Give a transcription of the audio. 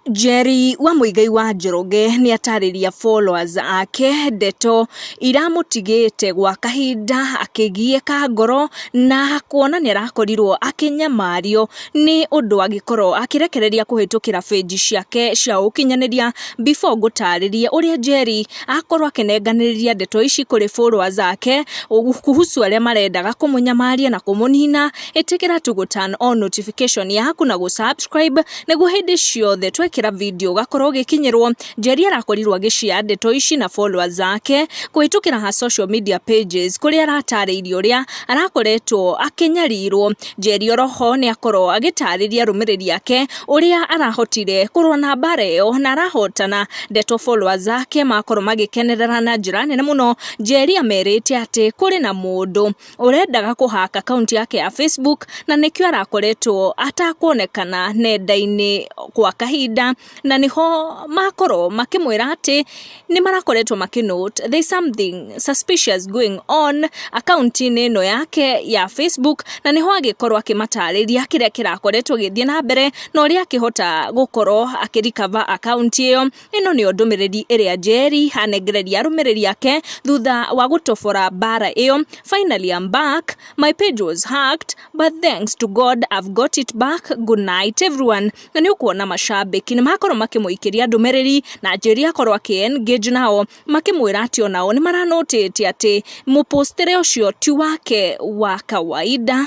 Njeri wa Muigai wa Njoroge nĩatarĩria followers ake ndeto iramũtigĩte gwa kahinda akĩgiĩka ngoro na kuona nĩarakorirwo akĩnyamario nĩ ũndũ angĩkorwo akĩrekereria kũhĩtũkĩra page ciake cia ũkinyanĩria. Before ngũtarĩrie ũrĩa Njeri akorwo akĩnenganĩrĩria ndeto ici kũrĩ followers ake kuhusu arĩa marendaga kũmũnyamaria na kũmũnina, ĩtĩkĩra tu gũ turn on notification yaku na gũ subscribe Nĩguo hĩndĩ ciothe twekĩra video ũgakorwo ũgĩkinyĩrwo, Njeri arakorirwo agĩshare ndeto ici na followers ake kũhĩtũkĩra her social media pages kũrĩa aratarĩirie ũrĩa arakoretwo akĩnyarirwo. Njeri oro ho nĩ akorwo agĩtarĩria arũmĩrĩri ake ũrĩa arahotire kũrũa na mbara ĩyo na arahotana. Ndeto followers ake makorwo magĩkenerera na njĩra nene mũno, Njeri amerite atĩ kũrĩ na mũndũ ũrendaga kũhaka akaunti yake ya Facebook na nĩkĩo arakoretwo atakuonekana nenda-inĩ gwa kahinda na nĩho makorwo makĩmwĩra atĩ nĩ marakoretwo makĩ note there is something suspicious going on akaunti-inĩ ĩno yake ya Facebook na nĩho agĩkorwo akĩmatarĩria kĩrĩa kĩrakoretwo gĩthiĩ na mbere na ũrĩa akĩhota gũkorwo akĩrikava akaunti ĩyo. Ĩno nĩyo ndũmĩrĩri ĩrĩa Njeri anengereria arũmĩrĩri ake thutha wa gũtobora mbaara ĩyo, Finally I'm back, my page was hacked but thanks to God I've got it back, good night everyone. Na nĩ ũkuona macambĩki nĩ makorwo makĩmũikĩria ndũmĩrĩri na Njeri akorwo akĩ engage nao makĩmwĩra atĩ o nao nĩ mara notice atĩ mũpũstĩre ũcio ti wake wa kawaida.